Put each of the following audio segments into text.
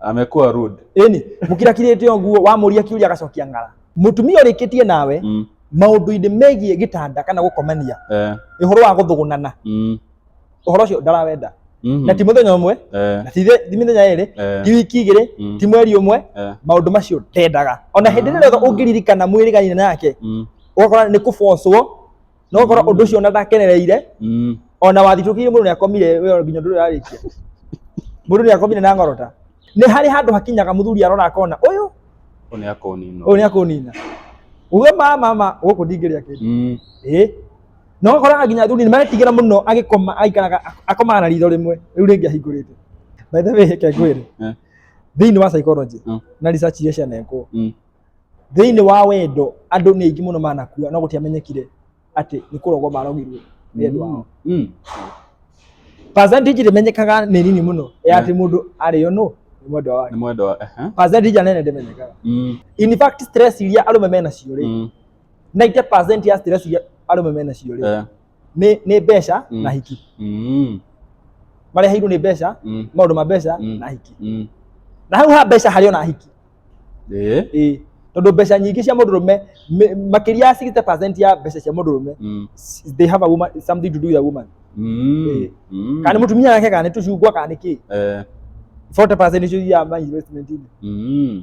amekuwa rude eni mukirakirite oguo wamuria kiuria agacokia ng'ara mutumia urikitie nawe mm. maundu-ini megie gitanda kana gukomania eh, ihoro wa guthugunana mm. uhoro ucio ndarawenda Mhm. na ti muthenya umwe eh, na ti thi- ti mithenya iri eh, ti wiki igiri Mm. ti mweri umwe eh, maundu macio ndendaga ona hindi ĩrĩa yothe ũngĩririkana mwĩrĩganina nake mm. ũgakora nĩ kũbocwo no gũkorwo ũndũ ũcio ona ndakenereire Mm. ona wathitũkĩire mũndũ nĩakomire we nginya ndũrĩ ararĩkia mũndũ nĩakomire na ngorota nĩ harĩ handũ hakinyaga mũthuri arona akona ũyũ Ũyũ nĩ akonino. ũyũ nĩakũnina uge ma mama gũkũ ndingĩrĩa kĩndũ Mm. ĩ no ũkoraga nginya athuri nĩmaretigĩra mũno agĩkoma aikaraga akomaga na ritho rĩmwe rĩu rĩngĩ ahingũrĩte by the way reke ngwĩre Eh. thĩinĩ wa psychology Mm. na research iria cianekwo Mm. Thĩinĩ wa wendo andũ nĩ aingĩ mũno manakua no gũtiamenyekire atĩ nĩ kũrogwo marogirwo nĩ andũ ao. Mm. Percentage ĩrĩa ĩmenyekaga nĩ nini mũno ya atĩ mũndũ arĩo nũ nĩ mwendwa wake. Nĩ mwendwa wa- aha. Percentage nene ndĩmenyekaga. Mm. In fact stress iria arũme menacio rĩ, Mm. 90% ya stress iria arũme menacio rĩ, Eh. nĩ nĩ mbeca Mm. na hiki Mm. mareheirwo nĩ mbeca Mm. maũndũ ma mbeca Mm. na hiki Mm. na hau ha mbeca harĩ ona hiki Eh. ĩĩ tondå mbeca nyingä cia må ndå rå me makä ria ya 60 ya mbeca cia må ndå rå me Mm. they have a woman, something to do with a woman Mm. Eh. Mm. kana nä må tumia yake kana nä tå cungwa kana nä kä Eh. 40 nä cio ya ma investment-inĩ Mm.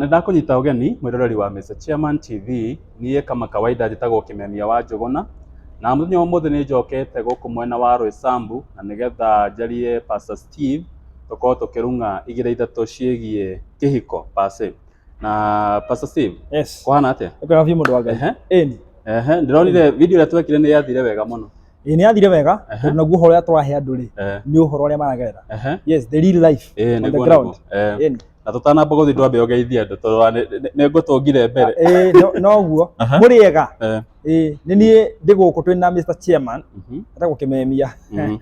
Nĩ ndakũnyita ũgeni mwĩroreri wa Mister Chairman TV, niĩ kama kawaida njĩtagwo Kĩmemia wa Njũgũna, na mũthenya wa ũmũthĩ nĩ njokete gũkũ mwena wa Roysambu na nĩgetha njarie Pastor Steve tũkorwo tũkĩrung'a igĩrĩ ithatũ ciĩgiĩ kĩhiko per se. Na Pastor Steve, Yes. kũhana atĩa? Nĩ kwega biũ mũndũ wa Ngai. Ehe. Ĩni. Ehe, ndĩronire video ĩrĩa twekire nĩ yathire wega mũno. ĩ nĩ athire wega Aha. tondũ naguo ũhoro ũrĩa tũrahe andũ rĩ Eh, nĩ ũhoro ũrĩa maragerera ehe. yes the real life Ĩĩ, on the nĩguo, ground nĩguo. Eh, Ĩĩ. na tũtanamba gũthiĩ ndwambe ũgeithie andũ tondũ wa- nĩ- nĩ- nĩ ngũtũngire mbere Ĩĩ, no- noguo Aha. mũrĩ ega Eh, Ĩĩ, nĩ niĩ ndĩ gũkũ twĩ na Mr Chairman mhm, atagwo kĩmemia mhm.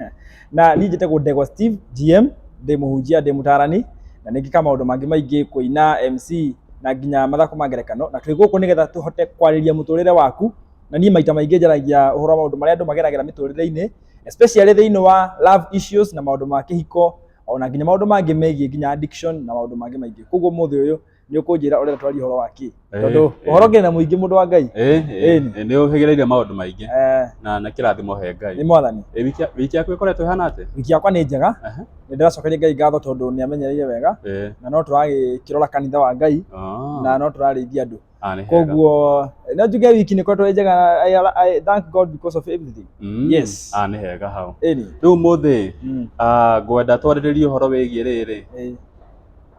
na niĩ njĩtagwo Ndegwa Steve GM ndĩ mũhunjia ndĩ mũtarani na nĩ ngĩka maũndũ mangĩ maingĩ kũina MC na nginya mathako ma ngerekano na twĩ gũkũ nĩgetha tũhote kwarĩria mũtũrĩre waku na niĩ maita maingĩ njaragia ũhoro wa maũndũ marĩa andũ mageragĩra mĩtũrĩre-inĩ especially thĩinĩ wa love issues na maũndũ ma kĩhiko ona nginya maũndũ mangĩ megiĩ nginya addiction na maũndũ mangĩ maingĩ koguo mũthĩ ũyũ nĩ ũkũnjĩra ũrĩa twaria ũhoro wa kĩ Eh, tondũ eh. ũhoro ngĩrĩ na mũingĩ mũndũ wa ngai Eh, eh, Ĩni. eh, nĩ ũhĩgĩrĩire maũndũ maingĩ Eh, na na kĩrathimo he nĩ ngai mwathani Eh, wiki- wiki yaku ĩkoretwo ĩhana atĩ wiki yakwa nĩ njega Aha. nĩ ndĩracokeria ngai ngatho tondũ nĩ amenyereire wega Eh, na no tũragĩkĩrora kanitha wa ngai ah. na no tũrarĩithia andũ Ah, nĩ hega. koguo no njuge wiki nĩ koretwo ĩ njega I, I thank God because of everything Mm. yes. Ah, nĩ hega hau Ĩni. rĩu mũthĩ Mm. ah, ngwenda twarĩrĩrie ũhoro wĩgiĩ rĩrĩ Ĩĩ.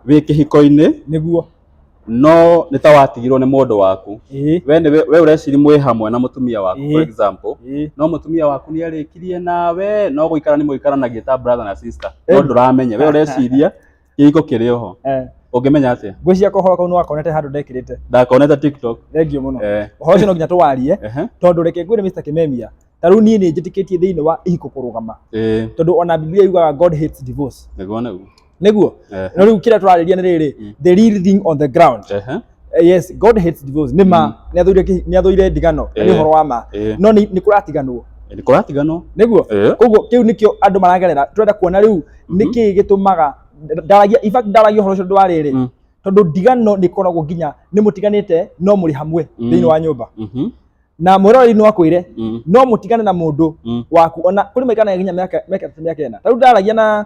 wĩ kĩhiko-inĩ nĩguo no nĩ ta watigirwo nĩ mũndũ waku Ĩĩ. we nĩ we- we ũreciri mwĩ hamwe na mũtumia waku for Ĩĩ. example Ĩĩ. no mũtumia waku nĩ arĩkirie nawe no gũikara nĩ mũikaranagia ta brother na sister no Ĩĩ. ndũramenya we ũreciria kĩhiko kĩrĩ oho eh ũngĩmenya atĩa ngwĩciria kohoro kau nĩwakonete handũ ndekĩrĩte ndakonete tiktok thengio mũno eh. ũhoro ũcio no nginya tũwarie tondũ reke ngwĩre Mr Kimemia ta rĩu niĩ nĩ njĩtĩkĩtie thĩinĩ wa ihiko kũrũgama tondũ ona Biblia yugaga God hates divorce nĩguo nĩguo eh. no rĩu kĩrĩa tũrarĩria nĩ rĩrĩ mm. the real thing on the ground Eh, yes god hates divorce nĩ ma Mm. nĩ athũire kĩ- nĩ athũire ndigano na nĩ Eh. ũhoro wa ma Eh, no nĩ nĩ kũratiganwo nĩ kũratiganwo nĩguo Eh, koguo kĩu nĩkĩo andũ maragerera tũrenda kuona rĩu Mhm. nĩkĩ gĩtũmaga ndaragia in fact ndaragia ũhoro ũcio ndwarĩ rĩ Mm. tondũ ndigano nĩ ikoragwo nginya nĩ mũtiganĩte no mũrĩ hamwe Mm. thĩinĩ wa nyũmba mhm, na mwĩroreri no akwĩre mm, no mũtigane na mũndũ mm. waku ona kũrĩ maikanaga nginya mĩaka mĩaka mĩaka ĩna tarĩu ndaragia na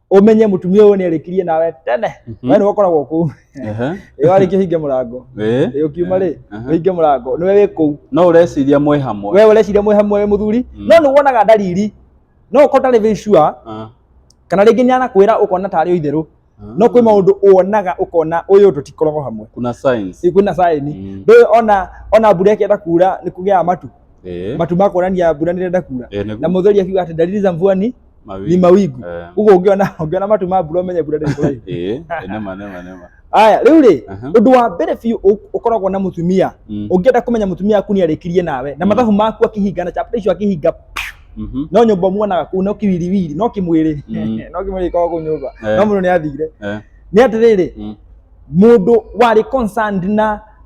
umenye mutumia uyu ni arikirie nawe tene Mhm. we ni ukoragwo ku Ehe. ri wariki hinge murango Eh. ri ukiuma ri Aha. uhinge murango ni we wi kuu no ureciria mwĩ hamwe we ureciria mwi hamwe wi muthuri Mm. no ni wonaga ndariri no ukorwo ndarĩ very sure Ah, kana rĩngĩ nĩ anakwĩra ũkona tarĩ o itherũ ah. no kwĩ maũndũ wonaga ũkona ũyũ tũtikoragwo hamwe kuna science Ĩ, kwĩna saĩni Mm. ndũĩ ona ona mbura ĩkĩenda kuura nĩ kũgĩaga matu Eh. matu makuonania mbura nĩ ĩrenda kuura Eh, nĩguo. na mũtheri akiuga atĩ dalili za mvua ni Mawingu. ni mawigu Eh, uguo ungiona ungiona matu ma mbura umenye mbura ndiri kuraihu eh, nema nema nema aya riu ri Aha. undu wa mbere biu u- ukoragwo na mutumia Mm, ungienda kumenya mutumia waku ni arikirie nawe na Mm. mathabu maku akihinga na chapter icio akihinga mhm, no nyumba umuonaga kuu no kiwiriwiri no kimwiri Mm. no kimwiri koragwo kuu nyumba Eh. no mundu ni athire eh, ni atiriri mm, mundu wari concerned na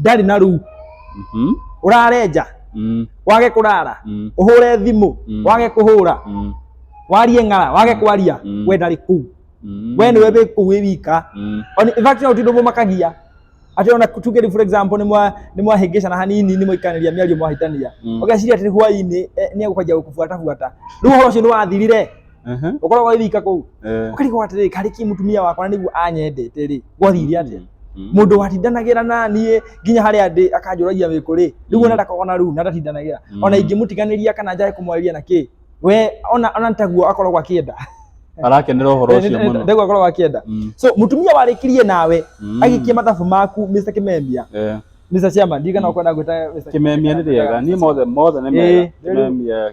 ndarĩ na ruu Mhm. ũrarenja Mm. wage kũrara Mm. ũhũre thimũ Mm. wage kũhũra Mm. warie ng'ara wage kwaria Mm. we ndarĩ kuu Mm. we nĩwe wĩ kuu wĩ wika Mm. On- in fact no tindå må makagia atä ona tuge rä for example nä mwa- nĩ mwahĩngĩcana hanini nä mwaikanĩria mĩario mwahĩtania Mm. ũgeciria atä hwainä nä egå kwanjia gå kå buata buata rä u å horo å cio nä wathirire Ehe. ukorwo gwa thika kuu Eh. ukarigwo atiriri kari ki mutumia wakwa na niguo anyendete ri gwathire atia Mm. mundu watindanagira nanie nginya haria ndi akanjuragia wiku ri riu ona ndakogona riu na ndatindanagira Mm. ona ingimutiganiria kana njae kumwarĩria na ki we ona ona ntaguo akoragwo akienda arakenera ũhoro ũcio mũno ndaguo akoragwo akienda Mm. so mutumia warĩkirie nawe Mm. agĩkia mathabu maku Mr. Kimemia Eh. Mr. Chairman ndigana ukwenda gwĩta Mr. kimemia nĩ rĩega niĩ mothe mothe nĩ mega Eh, rĩu- kimemia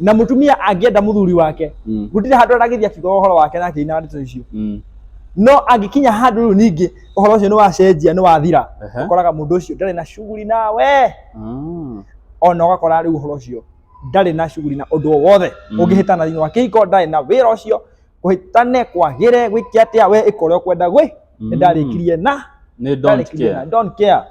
na mutumia angĩenda muthuri wake Mm. gutire handu aragithia kiugo uhoro wake na akĩina ndeto icio Mm. no angĩkinya handũ rĩu ningĩ ũhoro ũcio nĩ wacenjia nĩ wathira Ehe. ũkoraga mũndũ ũcio ndarĩ na shughuli nawe Mm. ona ũgakora rĩu ũhoro ũcio ndarĩ na shughuli na ũndũ o wothe Mm. ũngĩhĩtana thĩinĩ wa kĩhiko ndarĩ na wĩra ũcio kũhĩtane kwagĩre gwĩke atĩa we ĩka ũrĩa ũkwenda gwĩ Mm. nĩ ndarĩkirie na Nĩ don't ndarĩkirie na care. don't care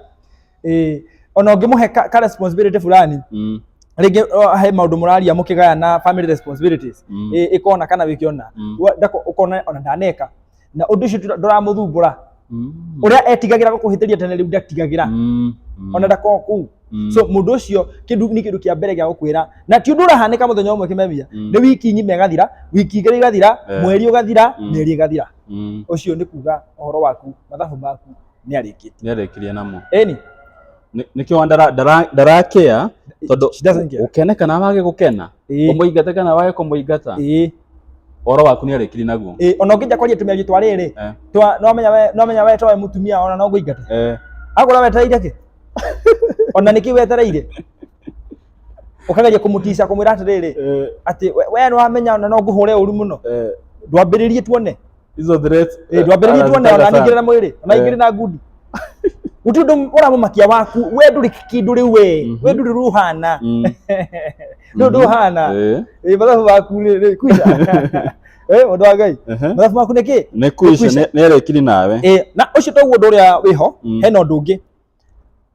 eh ona ungimuhe ka, ka responsibility fulani Mm. rĩngĩ uh, he maũndũ mũraria mũkĩgayana family responsibilities Mm. eh ikona kana wĩkĩona Mm. Wa- ndako ukona ona ndaneka na ũndũ ũcio ndũra- ndũramũthumbũra Mm. ũrĩa etigagĩra gũkũhĩtĩria tene rĩu ndatigagĩra Mm. Mm. ona ndakoo kũu Mm. so mũndũ ũcio kĩndũ nĩ kĩndũ kĩa mbere gĩa gũkwĩra na ti ũndũ ũrahanĩka mũthenya ũmwe kĩmemia Mm. nĩ wiki nyime ĩgathira wiki igĩrĩ igathira Eh. mweri ũgathira Mm. mĩeri ĩgathira Mm. ũcio nĩ kuga ũhoro waku mathabu maku nĩ arĩkĩtie nĩarĩkirie namo eni Nĩ- nĩkĩo wa ndara- ndara- ndarakĩa tondũ she doesn't care. gũkene kana wage gũkena Ĩĩ, kũmũingata kana wage kũmũingata ĩĩ, ũhoro waku nĩarĩkirie naguo ĩĩ, ona ũngĩja kwaria tumia gĩtwa rĩrĩ Eh. twa nĩwamenya we- nĩwamenya weta we mũtumia ona no ngũingate Eh, agũra wetereire kĩ ona nĩkĩ wetereire ũkageria kũmũtica kũmwĩra atĩrĩrĩ eh, atĩ we- we nĩwamenya ona no ngũhũre ũru mũno eh, ndwambĩrĩrie tuone hizo threats Eh, ndwambĩrĩrie tu Anazitaka ona sana. ningire na mwĩrĩ ona ingire na ngundi guti undu uramumakia waku we nduri kindu riu we Mhm. we nduri ruhana Mm. ndu nduhana Eh, Eh, mathabu waku rĩ- rĩ- kuisha Eh, mũndũ wa ngai ehe. mathabu maku nĩ kĩ nĩ kuisha Kuisha. nĩ- nĩrekiri nawe Eh, na ũcio toguo ũndũ ũrĩa wĩho Mm. hena ũndũ ũngĩ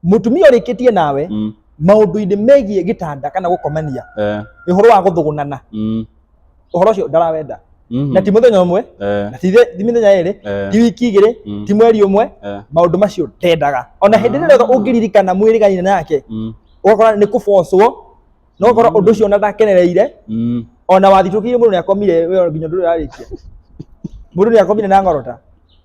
mutumia urikitie nawe mm, maundu-ini megie gitanda kana gukomania eh, ihoro wa guthugunana mm, uhoro ucio ndarawenda mhm, na ti muthenya umwe eh, na ti the- ti mithenya iri eh, ti wiki igiri Mm. ti mweri umwe eh, maundu macio ndendaga ona hindi ĩrĩa yothe ũngĩririkana mwĩrĩganire nake mm, ũgakora nĩ kũbocwo na ũgakora ũndũ ũcio ona ndakenereire mm, ona wathitũkĩire mũndũ nĩ akomire we nginya ndũrarĩkia mũndũ nĩ akomire na ngorota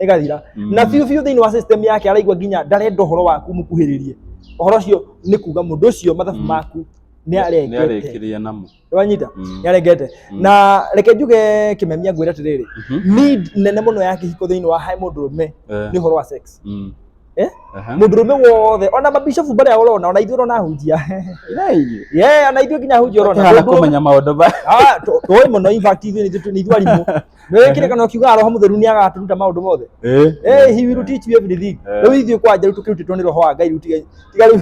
ĩgathira Mm. na biũ biũ thĩinĩ wa system yake araigua nginya ndarenda ũhoro waku mũkuhĩrĩrie ũhoro ũcio nĩ kuga mũndũ ũcio mathabu Mm. maku nĩ arengete nĩarĩkĩrĩria namo wanyita Mm. nĩarengete Mm. na reke njuge kĩmemia ngwĩra atĩrĩrĩ Mhm. need nene mũno ya kĩhiko thĩinĩ wa he mũndũ ũrũme Eh, nĩ ũhoro wa sex mm. Eh? Aha. mũndũ ũrũme wothe ona mabishofu barĩa ũrona ona ithuĩ ũrona ahunjia Yai. ye ona ithuĩ nginya ahunjia ũrona Tũhana Mũndũ ũrũme- kũmenya maũndũ ba Ah, tũ- tũĩ mũno in fact ithuĩ nĩ ithuĩ- nĩ ithuĩ arimũ nä wä kä rä kana å kiuga roho må theru nä agatå ruta maå ndå mothe Eh, Eh, he will teach you everything. Eh. Rĩu ithuĩ kwa nja rĩu tũkĩrutĩtwo nĩ roho wa Ngai rĩu tiga tiga rĩu.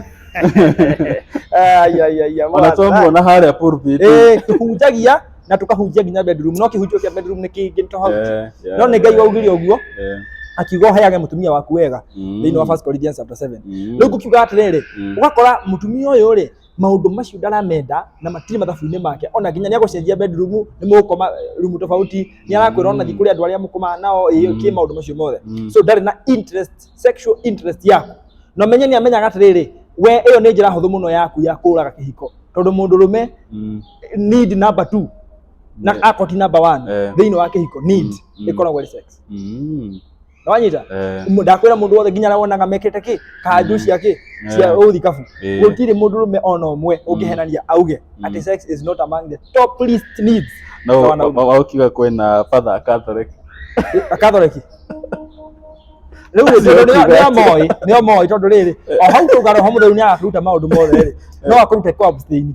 Ai ai ai. ona twamuona harĩa pulpit. Eh, tũhunjagia na tũkahunjia nginya bedroom no kĩhunjio kĩa bedroom nĩ kĩngĩ nĩ tofauti. Eh, yeah, No nĩ Ngai waugire ũguo eh, akiuga ũheage mũtumia waku wega mm, thĩinĩ wa 1 Corinthians chapter 7. mm, Rĩu ngũkiuga atĩrĩrĩ mm. ũgakora mũtumia ũyũ rĩ maundu macio ndaramenda na matirĩ mathabu-inĩ make ona nginya nĩ agũcenjia bedroom nĩ mũgũkoma eh, room tofauti nĩ arakwĩra ona thiĩ kũrĩ andũ arĩa mũkomaga nao ĩĩ Mm. kĩ maũndũ macio mothe Mm. so ndarĩ na interest sexual interest yaku na menye nĩ amenyaga atĩrĩrĩ we ĩyo nĩ njĩra hũthũ mũno yaku ya kũraga kĩhiko tondũ mũndũ rũme Mm. need number two na Yeah. akoti number one Eh. thĩinĩ wa kĩhiko need Mm. Mm. ĩkoragwo ĩrĩ sex Mm. Nawanyita? Eh. Ndakwira mundu wothe nginya wonaga mekete ki kanju cia ki cia Eh. uthikabu. Eh. Gutiri mundu rume ona umwe ungihenania auge ati sex is not among the top list needs. No, Sawa na wa- wa- wakiuga kwĩna father a Catholic. Akathoreki. Rĩu rĩ, tondũ nĩo- nĩo moĩ, nĩo moĩ tondũ rĩrĩ, o hau tũgaro ho mũtheri nĩ agakuruta maũndũ mothe rĩ, no akũrute kwa abstain.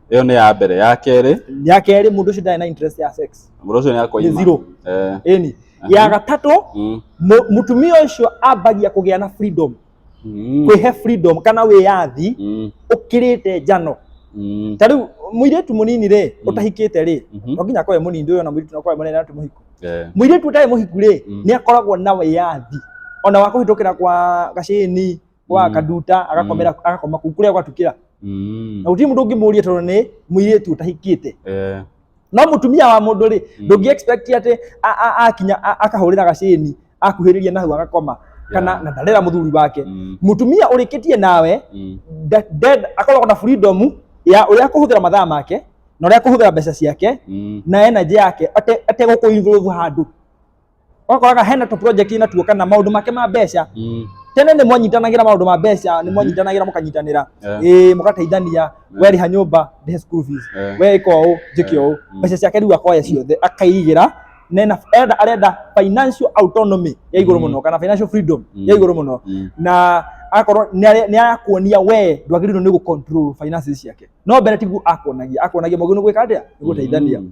ĩyo nĩ ya mbere ya kerĩ ya kerĩ mũndũ ũcio ndarĩ na interest ya sex mũndũ ũcio nĩ nĩ akoima zero Eh, ĩni ya gatatũ mm, mu- mũtumia ũcio ambagia kũgĩa na freedom mm, kwĩhe freedom kana wĩyathi mm, ũkĩrĩte njano mm, ta rĩu mũirĩtu mũnini rĩ Mm. ũtahikĩte rĩ mhm, no nginya akorwe mũnini ndũyona mũirĩtu nakorwe mũnene atĩ mũhiku eh, mũirĩtu ũtarĩ mũhiku rĩ Mm. nĩ akoragwo na wĩyathi ona wa kũhĩtũkĩra kwa gacĩni kwa Mm. kaduta agakomera agakoma kuu kuria gwatukira Mm. na uti mundu ngimuria tondu ni muiritu utahikite Eh. no mutumia wa mundu ri Mm. ndungi expect ati a- a- akinya a- akahurira gacini akuhiriria nahu agakoma kana Yeah. na ndarera muthuri wake Mm. mutumia urikitie nawe Mm. de- de- akoragwo na freedom ya uria akuhuthira mathaa make na uria akuhuthira mbeca ciake Mm. na energy yake ate ate gukuinvolve handu ũkoraga hena tũ project na tuo kana maũndũ make ma mbeca Mm. tene nĩ mwanyitanagira maũndũ ma mbeca nĩ mwanyitanagira mũkanyitanĩra Eh. ĩĩ mũgateithania werĩha nyũmba ndĩhe school fees Eh. we ĩka ũũ njĩke ũũ Mm. mbeca ciake rĩu akoya ciothe akaigĩra nena enda arenda financial autonomy ya igũrũ Mm. mũno kana financial freedom Mm. ya igũrũ mũno Mm. na akorwo nĩ arakuonia we ndwagĩrĩirwo nĩ gũ control finances ciake no mbere tiguo akuonagia akuonagia mũgĩ nĩ gwĩka atĩa nĩ gũteithania Mm.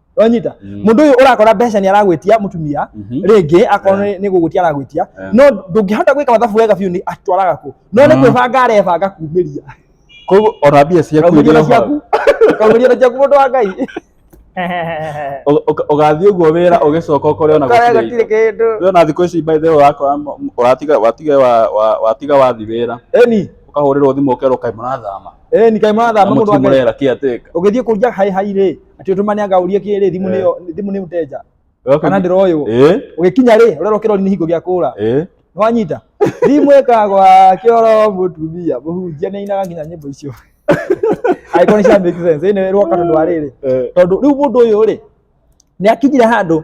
wanyita Mm. mundu uyu urakora mbeca ni aragwitia mutumia Mhm. ringi akorwo ni- ni gugwitia aragwitia Eh. no ndungihota gwika mathabu wega biu ni atwaraga ku no ni Mm. kwibanga arebanga kumiria koguo ona mbia ciaku kaumiria na iria hau. ciaku kaumiria na ciaku mundu wa ngai Ũ- ũka- ũgathiĩ ũguo wĩra ũgĩcoka ũkore ona Kaya gũtirĩ gutire kindu indo. ona thikũ ici by the way wakora m- m- ũratiga watiga wa- wa- watiga wathi wĩra eni ũkahũrĩrwo thimũ ũkerwo kaĩ mũrathama eni kai na marathama mundu wa ngai mũtimũrera kĩatĩka ũgĩthiĩ kũria hai hai rĩ Ati utuma ni anga urie kiri thimu ni thimu ni mteja. Kana ndiroyo. Eh. Ugikinya ri urero kiro ni hingo gia kura. Eh. Nwanyita. Thimu ekagwa kioro mutumia muhunjia ni inaga nginya nyimbo icio. Aiko ni cia make sense. Ine rwo katondu wa riri. Tondu riu mundu uyu ri ni akinyire handu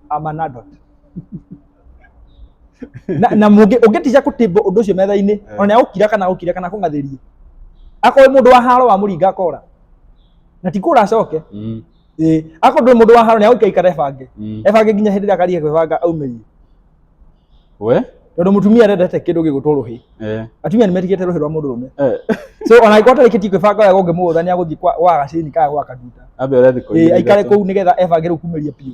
I'm an adult. na na mungi ungiticia kutimbo undu ucio metha-ini Eh. ona ukira kana ukira kana kungathirie akowe mundu wa haro wa muringa akora na ti kura acoke Mm. ĩ akorwo ndũrĩ mũndũ wa haro nĩ agũikara ikara ebange Mm. ebange nginya hĩndĩ ĩrĩa akariga kwĩbanga aumĩrie We? tondũ mũtumia arendete kĩndũ gĩgũtwo rũhĩ Eh. atumia nĩ metigĩte rũhĩ rwa mũndũ rũme Eh. so ona angĩkorwo atarĩkĩtie kwĩbanga wega ũngĩmũgũtha nĩ agũthiĩ kwa- gwa gacini kana gwa kaduta Ambe ũrethi Ĩ, aikare kũu nĩgetha ebange rĩu kumĩria biũ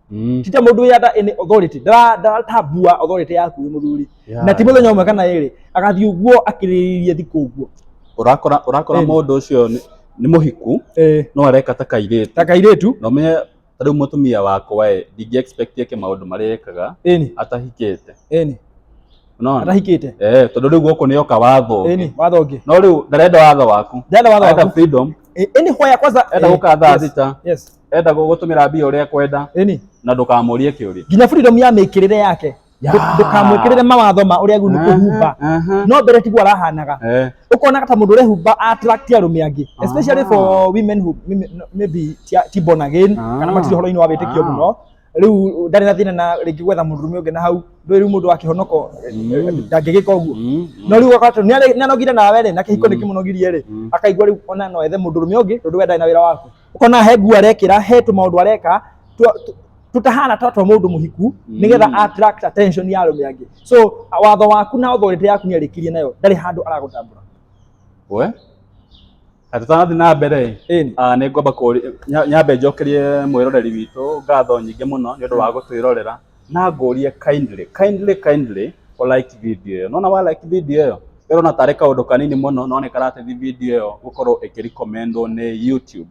Mm. tita mundu ya da any authority da da tabua authority yaku muthuri Yeah. na ti muthenya umwe kana iri agathi uguo akiriririe thiku uguo Urakora urakora Ĩni. mũndũ ũcio nĩ- nĩ mũhiku eh no areka ta kairĩtu. taka iretu Na ũmenye ta rĩu mũtumia wakwa ĩ ndingĩ expect eke maũndũ marĩa ekaga eni atahikĩte. eni Unaona? atahikite Eh, tondũ rĩu gũkũ nĩ oka watho. ũngĩ. eni watho ũngĩ No rĩu ndarenda watho waku. ndenda watho Arenda waku freedom. Eh, eni hoya kwanza Enda eh, gũka thaa yes, thita. yes enda gũgũtũmĩra mbia ũrĩa ekwenda ĩni na ndũkamũrie kĩũria nginya freedom ya mĩkĩrĩre yake Ya. Ndũ- ndũkamwĩkĩrĩre mawatho ma ũrĩa agĩrĩirwo nĩ kwĩhumba Aha, aha. no mbere tiguo arahanaga Eh, ũkonaga ta mũndũ ũrehumba attract arũme angĩ especially Ah. for women who women- no, maybe ti- ti born again Ah. kana matirĩ ũhoro-inĩ wa wĩtĩkio Ah. mũno rĩu ndarĩ na thĩna na rĩngĩ gwetha mũndũ ũrũme ũngĩ na hau ndũĩ rĩu mũndũ wakĩhonoka Mm. ndangĩgĩka ũguo mm, no rĩu ũgakora atĩ nĩare- nĩanogire nawe rĩ na kĩhiko nĩkĩmũnogirie rĩ Mm. akaigua rĩu ona no ethe mũndũ ũrũme ũngĩ tondũ we ndarĩ na wĩra waku ona he nguo arekĩra he tũmaũndũ areka twa- tũ- tũtahana ta twa mũndũ mũhiku nĩgetha Mm. attract attention ya arũme angĩ so watho waku na authority yaku nĩ arĩkirie nayo ndarĩ handũ aragũtambũra we na tũtanathiĩ na mbere Ĩni. ah, nĩ ngwamba kũũria- nya- nyambe njokerie mwĩroreri witũ ngatho nyingĩ mũno nĩ ũndũ wa gũtwĩrorera Na ngũrie kindly kindly kindly ũ like video ĩyo. Nĩwona wa like video ĩyo, ĩrona tarĩ kaũndũ kanini mũno no nĩ karateithia video ĩyo gũkorwo ĩkĩ recommend wo nĩ YouTube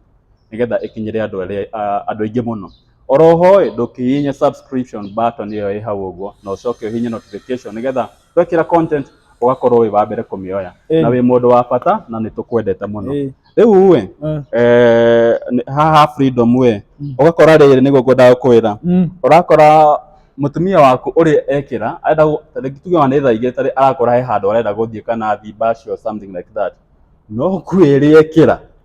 nĩgetha ĩkinyĩre andũ arĩa andũ aingĩ mũno. Oro ho ĩ, ndũngĩhihinya subscription button ĩyo ĩ hau ũguo na ũcoke ũhihinye notification nĩgetha twekĩra content ũgakorwo wĩ wa mbere kũmĩoya Ĩĩ. na wĩ mũndũ wa bata na nĩ tũkwendete mũno Ĩĩ. rĩu we Eh. eh, nĩ- haha freedom we Mm. ũgakora rĩrĩ nĩguo ngwendaga kwĩra Mm. ũrakora mũtumia waku ũrĩa ekĩra arenda gũ- ta rĩngĩ tuge ona nĩ thaa igĩrĩ tarĩ arakora he handũ arenda gũthiĩ kana athi baci or something like that no kwĩrĩ ekĩra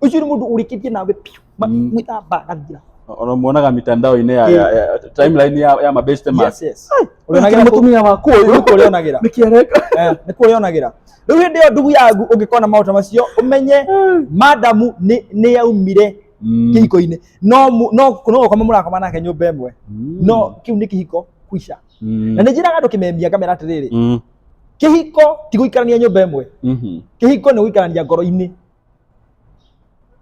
ucio ni mundu urikitie nawe piu Ma- Mm. mwita bagathira unamuonaga mitandao-inĩ ya, ya, ya timeline ya, ya mabeste man yes yes Ai, Urionagira tu- mutumia waku uyu Nĩ kũrĩonagira. nikiareka Eh, nĩ kũrĩa onagira rĩu hĩndĩ ĩyo ndugu yagu ũngĩkona maũndũ macio ũmenye madamu nĩ nĩ yaumire Mm. kĩhiko-inĩ no mu- no no gũkoma mũrakoma nake nyũmba ĩmwe Mm. no kĩu nĩ kĩhiko kuica Mm. na nĩ njĩraga andũ kĩmemia ngamera atĩrĩrĩ Mm. kĩhiko ti gũikarania nyũmba ĩmwe Mhm. kĩhiko nĩ gũikarania ngoro-inĩ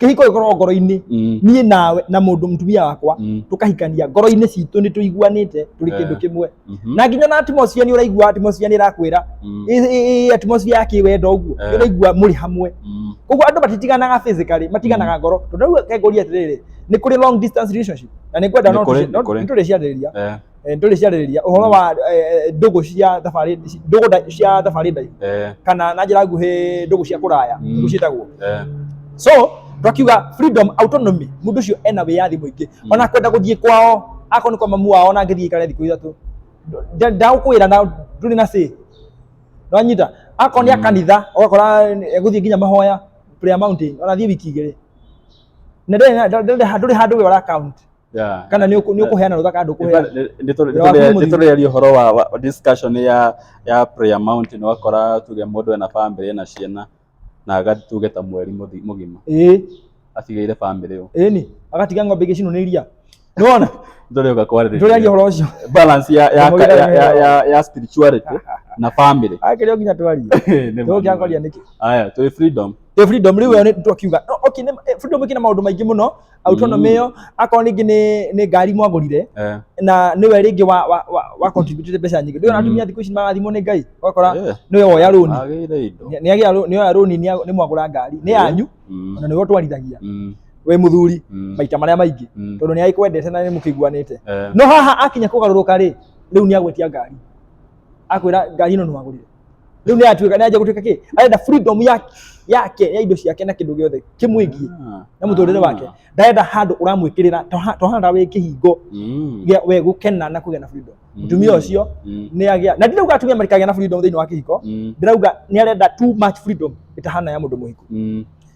kĩhiko gĩkorwo ngoro-inĩ Mm. niĩ nawe na mũndũ mũtumia wakwa Mm. tũkahikania ngoro-inĩ citũ nĩ tũiguanĩte tũrĩ kĩndũ Eh. kĩmwe Mhm. na nginya na atmosphere nĩ ũraigua atmosphere nĩ ĩrakwĩra Mm. ĩ- ĩ- ĩ- atmosphere ya kĩwendo ũguo Eh. nĩ ũraigua mũrĩ hamwe Mm. koguo andũ matitiganaga physically matiganaga ngoro tondũ rĩu kengũria atĩrĩrĩ nĩ kũrĩ long distance relationship na nĩ ngwenda Nĩ no kũrĩ, tũci- nĩ no- kũrĩ. nĩ tũrĩciarĩrĩria Eh. eh, ndũrĩ ciarĩrĩria ũhoro wa eh, eh, ndũgũ cia thabarĩ ndũgũ nda- cia thabarĩ ndaihu eh, kana na njĩra nguhĩ ndũgũ cia kũraya Mm. ndũgũ ciĩtagwo eh, so twakiuga freedom autonomy mũndũ ũcio ena wĩyathi mũingĩ Mm. ona kwenda gũthiĩ kwao akorwo nĩ kwa mamu wao ona angĩthiĩ ikare thikũ ithatũ Nda- ndagũkwĩra na ndũrĩ na say nĩwanyita akorwo nĩ a Mm. kanitha ũgakora egũthiĩ nginya mahoya prayer mountain ona thiĩ wiki igĩrĩ na ndũrĩ na- ndũrĩ ndũrĩ handũ we ũra count Yeah. kana nĩ ũkũ- nĩ ũkũheana rũtha kana ndũkũheana nĩtũrĩaria ũhoro wa wa- discussion ya ya prayer mountain wakora tuge mũndũ ena family ena ciana na agathi tuge ta mweri mũthi- mũgima ĩĩ atigĩire family ĩyo ĩĩ ni agatiga ng'ombe igĩcinwo nĩ iria nĩwona ndũrĩũka nĩtũrĩaria kwarĩrĩria ũhoro ũcio balance ya ya Mũgĩra ya- ya- ya- ya spirituality na family akĩrĩo nginya twarie Nĩ ma- tũgĩangaria nĩkĩ aya twĩ freedom ĩ freedom rĩu ĩyo nĩ twakiuga no, okay nĩ eh, freedom ĩkĩna maũndũ maingĩ mũno autonomy ĩyo akorwo ningĩ nĩ nĩ ngari mwagũrire Eh, na nĩwe rĩngĩ wa wa wa, wa contributire mbeca nyingĩ ndĩona atumia thikũ ici marathimwo nĩ ngai ũgakora eh, nĩwe woya rũni agĩire indo Nĩ- nĩagĩa rũ- nĩoya rũni nĩa- nĩ mwagũra ngari nĩ yanyu Mm, na nĩwe ũtwarithagia mm, we mũthuri mm, maita marĩa maingĩ mm, tondũ nĩ agĩkwendete na nĩ mũkĩiguanĩte eh. no haha akinya kũgarũrũka rĩ rĩu nĩ agwetia ngari akwĩra ngari ĩno nĩwagũrire riu ni atuika ni anja gutuika ki arenda freedom yake yake ya indo ciake na kindu giothe kimwingie Ah. na muturire wake Ah. ndarenda handu uramwikirira tohanda wi kihingo Mm. gia we gukena na kugia na freedom Mm. mutumia ucio Mm. ni agia na ndirauga atumia marikagia na freedom thiini wa kihiko Mm. ndirauga ni arenda too much freedom itahana ya mundu muhiku Mm.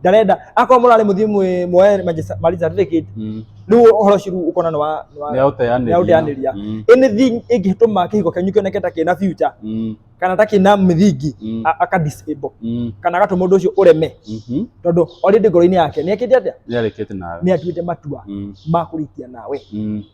ndarenda akorwo mũrarĩ mũthiĩ mwĩ- muoye Manchester- marriage certificate Mm. rĩu ũhoro ũcio rĩu ũkona nĩ wa- nĩ wa- Nĩaũteanĩria. nĩaũteanĩria. Mm. anything ĩngĩtũma kĩhiko kĩanyu kĩoneke ta kĩna future Mm. kana ta kĩna mĩthingi Mm. a- aka disable Mm. kana agatũma ũndũ ũcio ũreme Mhm. tondũ already ngoro-inĩ yake nĩekĩte atĩa Nĩarĩkĩte nawe. nĩatuĩte matua Mm. ma kũrĩkia nawe Mm.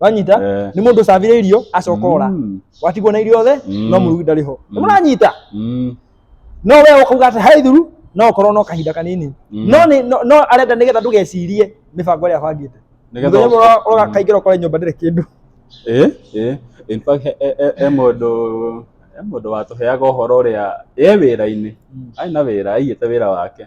wanyita Eh. nĩ mũndũ ũcabire irio acoka ora Mm. watigwo na irio othe Mm. no mũrugi ndarĩ ho Mm. mũranyita Mm. no we ũkauga atĩ he ithuru no ũkorwo no kahinda kanini Mm. no nĩ- no- no arenda nĩgetha ndũgecirie mĩbango ĩrĩa abangĩte Nĩgetha mũthenya ũmwe ũka- ũra- kaingĩra ũkore nyũmba ndĩrĩ kĩndũ Eh, eh. In fact, he- he- he- he mũndũ he mũndũ watũheaga ũhoro ũrĩa e wĩra-inĩ arĩ na wĩra aigĩte wĩra wake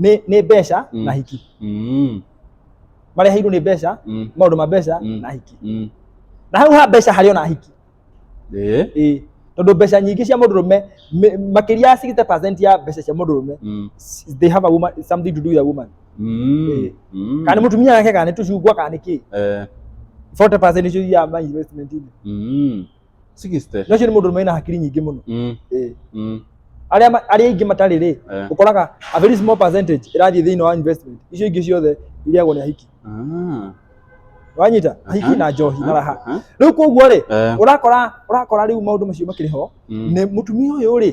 nĩ nĩ mbeca Mm. na hiki Mm. mareheirwo nĩ mbeca Mm. maũndũ ma mbeca Mm. na hiki Mm. na hau ha mbeca harĩ ona hiki Eh. ĩĩ tondå mbeca nyingä cia må ndå rå me makä ria ya 60 ya mbeca cia må ndå rå me Mm. s- they have a woman, something to do with a woman Mm. Eh. Mm. kana nä må tumia nake kana nä tå cungwa kana nä kä Eh. 40 icio ya ma investment-inĩ Mm. 60. na ũcio nĩ mũndũ ũrũme na hakiri nyingĩ mũno Mm. Eh. Mm. arĩa ma- arĩa aingĩ matarĩ rĩ Eh. ũkoraga a very small percentage ĩrathiĩ thĩinĩ wa investment icio ingĩ ciothe irĩagwo nĩ ahiki Ah. wanyita ahiki Aha. na njohi na raha Aha. rĩu koguo rĩ Eh. ũrakora ũrakora rĩu maũndũ macio makĩrĩ ho Mm. nĩ mũtumia ũyũ rĩ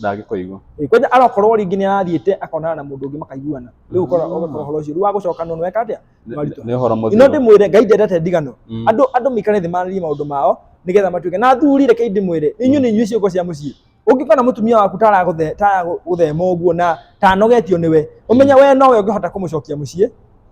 ndangĩkoigua Ĩ, kwanja arakorwo rĩngĩ nĩ arathiĩte akonana na mũndũ ũngĩ makaiguana rĩu ũkora Mm. ũgakora ũhoro ũcio rĩu wa gũcoka nonwe eka atĩa Nĩ- Maritũ. nĩ ũhoro ino mũthiro ndĩmwĩre ngai ndendete ndigano Mm. andũ andũ maikare thĩ marĩrie maũndũ mao nĩgetha matuĩke na athuri reke ndĩmwĩre inyuĩ nĩ inyuĩ ciũko cia mũciĩ ũngĩkona mũtumia waku taragũthema ũguo na tanogetio nĩwe ũmenye we nowe ũngĩhota kũmũcokia mũciĩ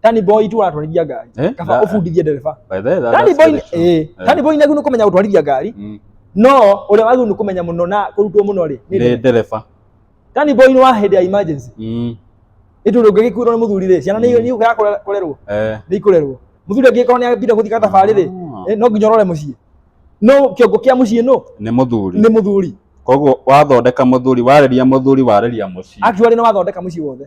Tani boy tu aratwarithia ngari. Eh, Kaba that- ũbundithie ndereba. By the way, that- Tani that's boy very true. eh Eh. tani boy nagĩrĩirwo nĩ kũmenya gũtwarithia ngari. Mm. No ũrĩa wagĩrĩirwo nĩ kũmenya mũno na kũrutwo mũno rĩ. nĩ Nĩ ndereba. ndereba. Tani boy nĩ wa hĩndĩ ya emergency. Mm. Nĩ tondũ ũngĩgĩkuĩrwo nĩ mũthuri rĩ, ciana nĩ ikũgera kũrerwo. Eh. nĩ ikũrerwo mũthuri angĩkorwo nĩ abinde gũthika thabarĩ rĩ Ah. eh, no nginya ũrore mũciĩ no kĩongo kĩa mũciĩ no Nĩ mũthuri. nĩ mũthuri Koguo wathondeka mũthuri, warĩria mũthuri, warĩria mũciĩ. actually nĩ wathondeka mũciĩ wothe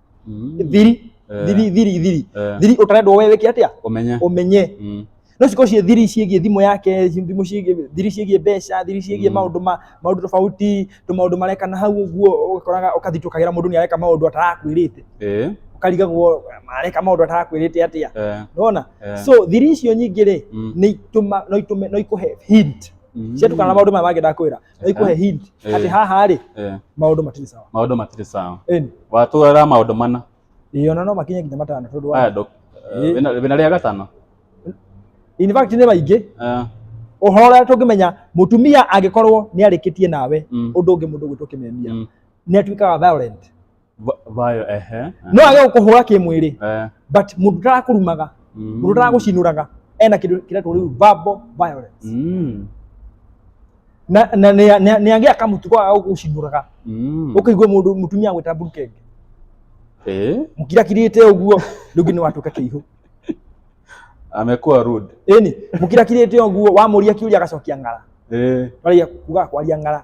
Mm. thiri Eh, thiri thiri thiri eh, thiri ũtarendwo we wĩke atĩa ũmenye ũmenye Mm. no cikorwo ciĩ thiri ciĩgiĩ thimũ yake thimũ ciĩgiĩ thiri ciĩgiĩ mbeca thiri ciĩgiĩ Mm. maũndũ ma maũndũ tofauti tũ maũndũ marekana hau ũguo ũgakoraga ũkathitũkagĩra mũndũ nĩ areka maũndũ atarakwĩrĩte Eh, ũkarigagwo areka maũndũ atarakwĩrĩte atĩa eh, nona eh. so thiri icio nyingĩ rĩ Mm. nĩ itũma no itũme no ikũhe hint Mm. ciatukana na maũndũ maya mangĩ ndakwĩra aikũhe hint Eh. atĩ haha rĩ Eh, maũndũ matirĩ sawa maũndũ matirĩ sawa Ĩni. watwara maũndũ mana Ĩĩ, ona no makinye nginya matano tondũ wa- aya dok Eh. wĩna rĩa gatano in fact nĩ maingĩ Eh, ũhoro ũrĩa tũngĩmenya mũtumia angĩkorwo nĩ arĩkĩtie nawe mm, ũndũ ũngĩ mũndũ gwĩtwo kĩmemia mm, nĩ atuĩkaga violent Va- vayo ehe no age gũkũhũra kĩmwĩrĩ eh but mũndũ ũtarakũrumaga mm. mũndũ ũtaragũcinũraga ena kĩndũ kĩretwo rĩu verbal violence mm. na na nĩ- nĩ- nĩ agĩa kamũtugo ga gũgũcinũraga mm. ũkĩigua mũndũ mũtumia gwĩta burukenge eh mũkirakirĩte ũguo rĩu nginya watuĩka kĩihũ amekuwa rude ĩni mũkirakirĩte ũguo wamũria kĩũria agacokia ng'ara eh waragia kuga kwaria ng'ara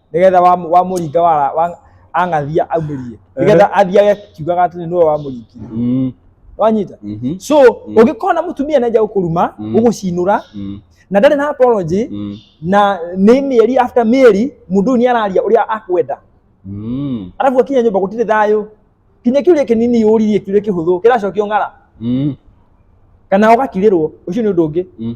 nigetha wa wa muringa wa wa- ang'athia aumĩrie nigetha athiage kiugaga atĩ nĩwe wa mũringire Mm. wanyita Mhm. so Mm. ũngĩkorwo na mũtumia nenja gũkũruma Mm. gũgũcinũra Mm. na ndarĩ na apology Mm. na nĩ mĩeri after mĩeri mũndũ ũyũ nĩ araria ũrĩa akwenda Mm. arabu akinya nyũmba gũtirĩ thayũ kinya kĩũria kĩnini ũririe kĩũria kĩhũthũ kĩracokio ng'ara Mm. kana ũgakirĩrwo ũcio nĩ ũndũ ũngĩ Mm.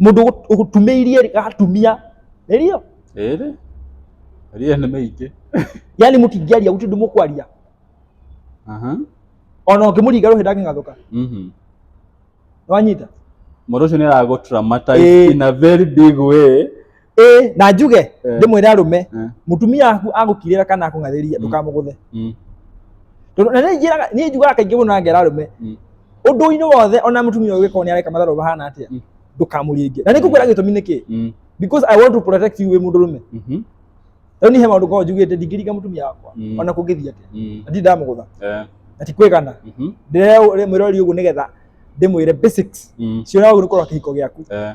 Mũndũ ũgũ- ũgũtumĩirie rĩ, atumia nĩrio Ĩrĩ. Ria nĩ mĩingĩ. yani mũtingĩaria gũtirĩ ũndũ mũkwaria Aha. ona ũngĩmũringa rũhĩ ndangĩng'athũka Mhm. nĩwanyita Mũndũ ũcio nĩ aragũ traumatize Ĩĩ. in a very big way ĩ na njuge Eh. ndĩmwĩre arũme Eh. mũtumia waku agũkirĩra kana akũng'athĩria Mm. ndũkamũgũthe Mm. tondũ na nĩnjĩraga niĩ njugaga kaingĩ mũno na ngera arũme Mm. ũndũ-inĩ wothe ona mũtumia ũyũ gĩkorwo nĩ areka matharũ mahana atĩa Mm. ndũkamũringe na nĩngũkwĩra gĩtũmi nĩkĩ Mm. because i want to protect you wĩ mũndũ rũme Mhm. rĩu niĩ he maũndũ ngoragwo njugĩte ndingĩringa mũtumia wakwa Mm. ona kũngĩthiĩ atĩa Mm. na ndirĩ ndamũgũtha Eh. na ti kwĩgana Mhm. ndĩremwĩrori ũguo nĩgetha ndĩmwĩre basics Mm. cionaga ũguo nĩ kũrora kĩhiko gĩaku Eh.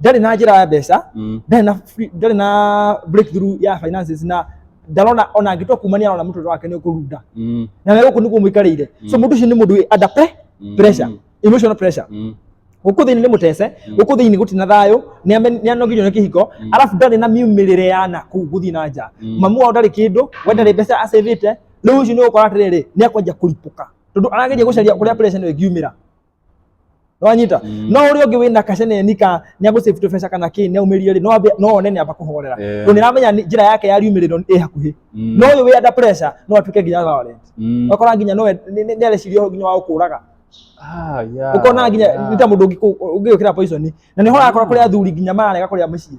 ndarĩ na njĩra ya mbeca Mm. ndarĩ na free- ndarĩ na breakthrough ya finances na ndarona ona angĩtua kuma nĩ arona mũtũrĩre wake nĩ ũkũrunda Mm. na gũkũ nĩguo mũikarĩire so mũndũ ũcio nĩ mũndũ wĩ under pre- Mm. pressure emotional pressure Mm. gũkũ thĩinĩ nĩ mũtece gũkũ thĩinĩ gũtirĩ na thayũ nĩ ame- nĩ anogirio nĩ kĩhiko arabu ndarĩ na miumĩrĩre ya na kũu gũthiĩ na nja mamu wao ndarĩ kĩndũ we ndarĩ mbeca acĩvĩte rĩu ũcio nĩ ũgũkora atĩrĩrĩ nĩ akwanjia kũripũka tondũ arageria gũcaria kũrĩa pressure nĩ ĩngiumĩra wanyita Mm. no uri ungi wina kaceneni ka ni agu save tubeca kana ki ne umirie ri no ambe- no one ni amba kuhorera Eh. ndo ni ramenya ni- njira yake ya riumiriro ni hakuhi Mm. no uyu wi under pressure no atuke nginya violent Mm. okora nginya no ni areciria nginya wa gukuraga Ah, yeah, ukona nginya yeah. nita mundu ungi ukira poison na ni hora akora kuria athuri nginya marega kuria mucii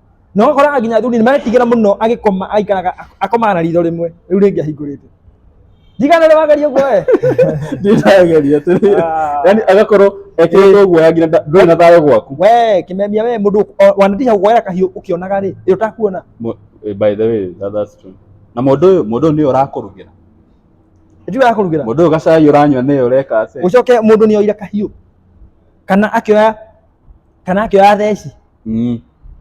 na ũgakora nginya athuri nĩ maretigĩra mũno agĩkoma aikaraga akomaga na ritho rĩmwe rĩu rĩngĩ ahingũrĩte ndigana rĩ wageria ũguo we ndĩrageria atĩrĩ Ah. yani agakorwo ekĩrĩtwo guoya nginya nda- ndũrĩ na thayũ gwaku we kimemia we mundu wanatiha guoya kahiũ ukionaga ri ri utakuona Mu- eh, by the way that, that's true na mũndũ ũyũ mũndũ ũyũ nĩ ũrakũrugĩra ndiwe akurugira mũndũ ũyũ gacai ũranyua nĩ ũreka atĩ ucoke mundu ni oira kahiũ kana akioya kana akĩoya theci Mm.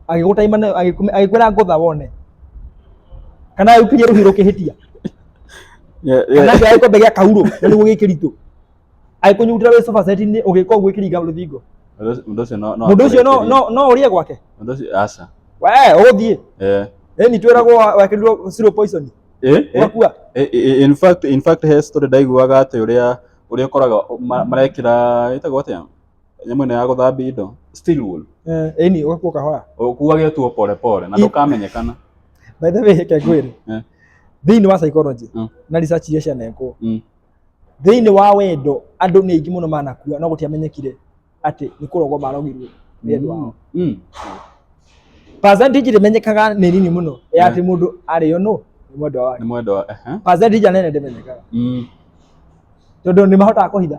agĩgũtaima nayo agĩkũme- agĩkwĩra ngũtha wone kana agĩkirie rũhirũ kĩhĩtia Yeah, kana yeah. akĩoya gĩkombe gĩa kaurũ na nĩguo gĩ kĩritũ agĩkũnyugutĩra wĩ sofa set-inĩ ũgĩka ũguo ĩkĩringa rũthingo Mũndũ ũcio- mũndũ ũcio no- no mũndũ ũcio no akũrĩkĩrie. no no ũrĩe gwake Mũndũ ũcio- aca. we ũgũthiĩ Eh. ĩni twĩragwo wekĩrirwo zero poison Eh, eh. ũgakua Eh, eh, in fact in fact he story ndaiguaga atĩ ũrĩa ũrĩa ũkoraga ma- marekĩra ĩtagwo atĩa nyamũ ĩno ya gũthambia indo steel wool Eh, ĩni ũgakua kahora ũkuage tuo pole pole na I- ndũkamenyekana by the way reke ngwĩre Eh. thĩinĩ wa psychology Mm. na research iria cianekwo Mm. thĩinĩ wa wendo andũ nĩ aingĩ mũno manakua no gũtiamenyekire atĩ nĩ kũrogwo marogirwo nĩ andũ ao Mm. percentage ĩrĩmenyekaga nĩ nini mũno ya atĩ mũndũ arĩo nũ nĩ mwendwa wake nĩ mwendwa ehe. percentage nene ndĩmenyekaga Mm. tondũ nĩ mahotaga kũhitha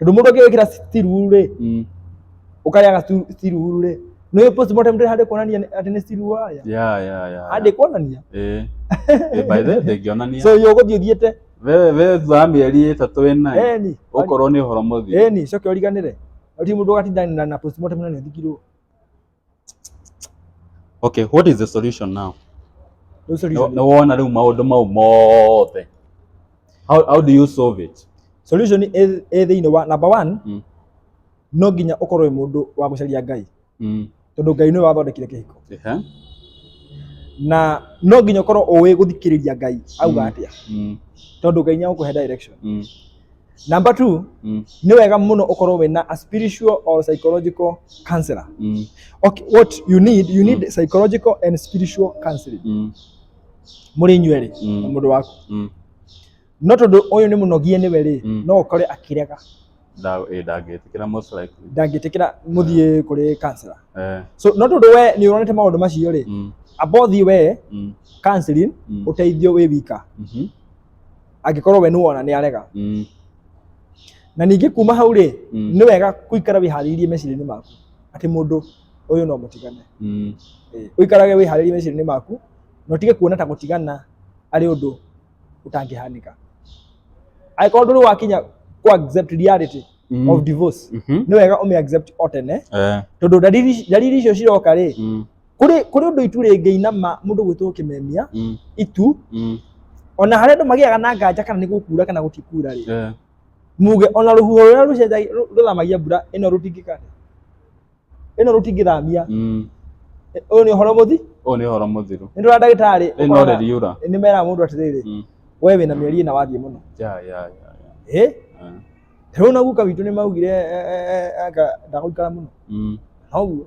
Tondũ mũndũ angĩgwĩkĩra stiru rĩ, Mm. ũkarĩaga stu- stiru rĩ, nĩ ũyũ postmortem ndĩrĩ handũ kuonania nĩ- atĩ nĩ stiru warĩa. Yeah, yeah, yeah. Handĩ kuonania. Eh. Eh, by the way, ndĩngĩonania. So yo ũgũthiĩ ũthiĩte. Wewe wewe thutha wa mĩeri ĩtatũ wĩna ĩ, Eni. ũkorwo nĩ ũhoro mũthiru. Eni, coke ũriganĩre. Ti mũndũ ũgatinda na- na postmortem na nĩ ũthikirwo. okay what is the solution now Rĩu nĩ solution- nĩ wona rĩu maũndũ mau mothe how, how do you solve it solution ĩ ĩ thĩinĩ wa number one Mm. no nginya ũkorwo wĩ mũndũ wa gũcaria ngai mm. tondũ ngai nĩwe wathondekire kĩhiko Ehe. na no nginya ũkorwo ũĩ gũthikĩrĩria ngai auga Mm. atĩa Mm. tondũ ngai nĩagũkũhe direction Mm. Number two, Mm. nĩ wega mũno ũkorwo wĩna a spiritual or psychological counselor. Mm. Okay, what you need, you need psychological and spiritual counseling. Mm. Mũrĩ inyuerĩ Mm. na mũndũ waku. Mm. No tondũ ũyũ nĩ mũnogie nĩwe rĩ, Mm. no ũkore akĩrega Nda- ĩ, ndangĩtĩkĩra most likely. ndangĩtĩkĩra mũthiĩ kũrĩ counselor. Eh, So no tondũ we nĩ ũronete maũndũ macio rĩ, mm. abothi we Mm. counseling Mm. ũteithio wĩ wika. Mhm. angĩkorwo we nĩwona nĩ arega Mm. na ningĩ kuma hau rĩ Mm. nĩ wega kũikara wĩharĩirie meciria-inĩ maku atĩ mũndũ ũyũ no mũtigane Mm. Eh, ũikarage wĩharĩirie meciria-inĩ maku na ũtige kuona ta gũtigana arĩ ũndũ ũtangĩhanĩka angĩkorwo ndũrĩ wakinya ku accept reality Mm. of divorce Mhm. nĩ wega ũmĩ accept o tene Eh. tondũ ndariri ndariri icio ciroka rĩ Mm. kuri kuri undu itu ringĩinama mundu gwĩtwo kimemia Mm. itu Mm. ona harĩa andũ magĩaga na nganja kana nĩ gũkuura kana gũtikuura rĩ Yeah. muge ona rũhuho rũrĩa rũcenjagia- rũ- rũthamagia mbura ĩno rũtingĩka ĩno rũtingĩthamia Mm. Ĩ- ũyũ nĩ ũhoro mũthi Ũyũ nĩ ũhoro mũthiru. nĩ ndũra ndagĩtarĩ Ĩno ũkona- rĩriura. nĩ meraga mũndũ atĩrĩrĩ Mm. we wĩna mĩeri ĩna wathiĩ mũno Yeah, yeah, yeah, yeah. ĩ Eh. rĩu na guka witũ nĩ maugire eh, eh, eh, anga ndagũikara mũno Mm. noguo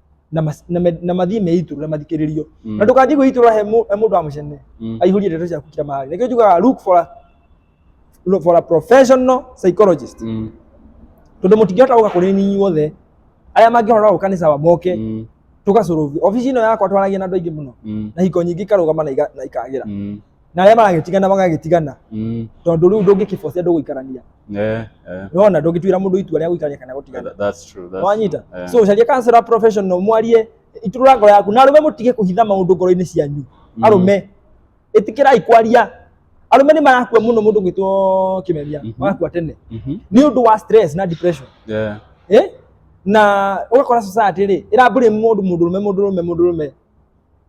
na mas- na me- na mathiĩ meitũrũ na mathikĩrĩrio Mm. na ndũkanjie kwĩitũrũra he mũ- he mũndũ wa mũcene Mm. aihũrie ndeto ciaku kira mahali nĩkĩo njugaga look for a, look for a professional psychologist Mm. tondũ mũtingĩhota gũka kũrĩ ninyi wothe arĩa mangĩhota gũka nĩ sawa moke Mm. tũgacũrũvi obici ĩno yakwa twaragia na andũ aingĩ mũno Mm. na hiko nyingĩ ikarũgama na iga- na ikagĩra Mm. na arĩa maragĩtigana magagĩtigana Mm. tondũ rĩu ndũngĩkĩbocia ndũgũikarania Eh, eh. nona ndũngĩtuĩra mũndũ itua rĩa gũikarania kana gũtigana That- That's true. That's wanyita true. Eh. so ũcarie counselor professional mwarie iturũra ngoro yaku na arũme mũtige kũhitha maũndũ ngoro-inĩ cianyu Mm. arũme ĩtĩkĩrai kwaria arũme nĩ marakua mũno mũndũ gwĩtwo kĩmeria Mhm. marakua tene Mhm. nĩ ũndũ wa stress na depression Yeah. eh? na ũgakora society rĩ ĩrambũrĩ mũndũ mũndũ rũme mũndũ rũme mũndũ rũme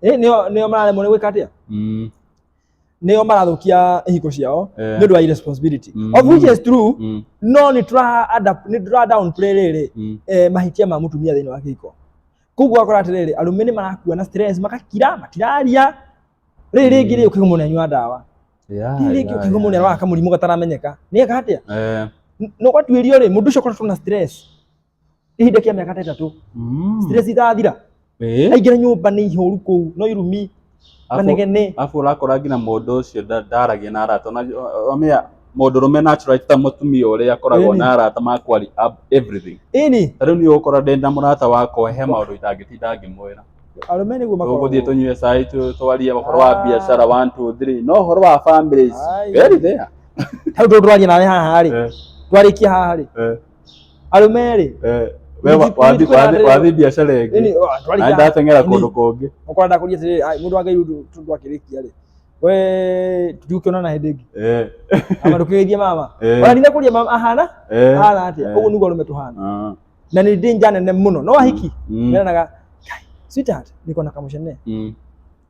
eh nio nio mararemwo ni gwika atia Mm. nio marathukia ihiko ciao Eh. ni ndu wa irresponsibility Mm. of which is true Mm. no ni tura adapt ni tura down play riri Mm. eh, mahitia ma mutumia thini wa kihiko koguo akora atiriri arume ni marakua na stress makakira matiraria riri ringi ri ukigumwo ni anyua ndawa Yeah, riri ringi yeah, ukigumwo ni yeah. arwara kamurimu gataramenyeka ni eka atia Eh, no gwatuirio ri mundu ucio korwo na stress ihinda kia miaka tetatu Mm. stress itathira Eh. aingĩra nyũmba nĩ ihũru kũu no irumi Afu- manegene Alafu urakora nginya mũndũ ũcio nda- ndaragia na arata na amea mũndũ rũme natural ti ta mũtumia ũrĩa akoragwo Ĩni. na arata ma kwari ab- everything ĩni ta rĩu niĩ ũkora ndĩ na mũrata wakwa he maũndũ itangĩtinda ngĩmwĩra arũme nĩguo makoragwo tũgũthiĩ tũnyue cai tũ- twarie ũhoro wa Ah. biacara one two three no ũhoro wa families Ai. very there hau tũtwarie nawe haha rĩ Eh, twarĩkia haha rĩ eh. arũme rĩ Eh, we wa- Nĩthiĩ- wathi- nĩthiĩ wathi- wathi biacara nini ĩngĩ o, na twarĩkia- ndateng'era nini, kũndũ kũngĩ okorwo ndakũria atĩrĩrĩ "Ai, mũndũ wake rĩu ndũ- ndũ akĩrĩkia rĩ we tũtiũkĩonana hĩndĩ ĩngĩ Eh, ama ndũkĩgeithie mama Eh. ona nina kũria mama ahana eh, ahana atĩa eh. ũguo nĩguo arũme tũhana Ah, na nĩ danger nene mũno no ahiki mm, meranaga "Kai, sweetheart niko na kamũcene mm.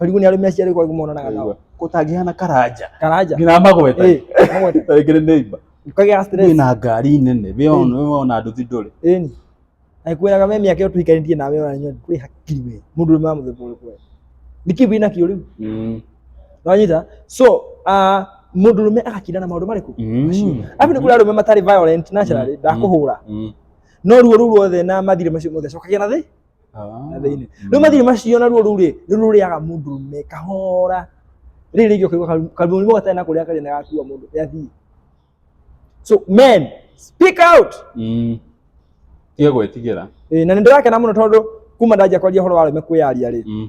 Ũrigũ nĩ arĩ meciria rĩu kwarĩ monanaga nao. kũtangĩhana karanja Karanja. nginya magweta Eh, magweta. tarĩngĩ nĩ neighbor Ũkagĩa stress. wĩ na ngari nene wĩ ona wĩ ona nduthi ndũrĩ Ĩni. Akwĩraga we mĩaka ĩyo tũikarĩtie nawe ona nyonya kũrĩ hakiri we. Mũndũ ũrĩa wa mũthemba ũrĩkũ we. Nĩ kĩu wĩna kĩo rĩu. Mm, Wanyita? So, ah, mũndũrũme agakinda na maũndũ marĩkũ? mm, Abi nĩ kũrĩ arũme matarĩ violent naturally ndakũhũra. mm. No ruo rũu ruothe na mathirĩ macio mothe cokagia na thĩ. na thĩinĩ rĩu mathiri macio na ruo rũu rĩ nĩ rũrĩaga mũndũrũme kahora rĩrĩ rĩngĩ ũkaigua karu- karuo mũrimũ gatarĩ na kũrĩa karĩ na gakua mũndũ gathiĩ so men speak out Mm. Tiga gwĩtigĩra. Ĩĩ, na nĩ ndĩrakena mũno tondũ kuma ndanjia kwaria ũhoro wa arũme kwĩyaria rĩ Mm.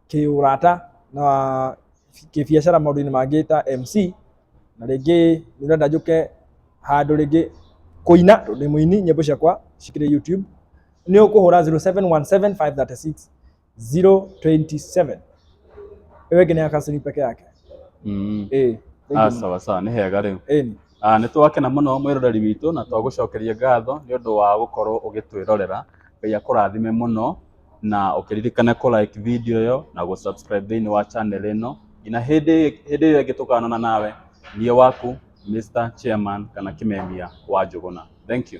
kĩũrata na kĩbiacara maũndũ-inĩ mangĩ ta MC, na rĩngĩ nĩ ũrenda njũke handũ rĩngĩ kũina tondũ ndĩ mũini nyĩmbo ciakwa cikĩrĩ YouTube, nĩ ũkũhũra 0717536027. Ĩyo ĩngĩ nĩ ya Kassim peke yake. Mm. Ĩĩ. Ah, sawa sawa, nĩ hega rĩu. Ĩni. Ah, nĩ twakena mũno mwĩroreri witũ na twagũcokeria ngatho nĩ ũndũ wa gũkorwo ũgĩtwĩrorera. Ngai akũrathime mũno. na ũkĩririkane kũ like video ĩyo na gũ subscribe thĩinĩ wa channel ĩno nginya hĩndĩ hĩndĩ ĩyo ĩngĩ tũkonana nawe niĩ waku Mr. Chairman kana Kĩmemia wa Njũgũna thank you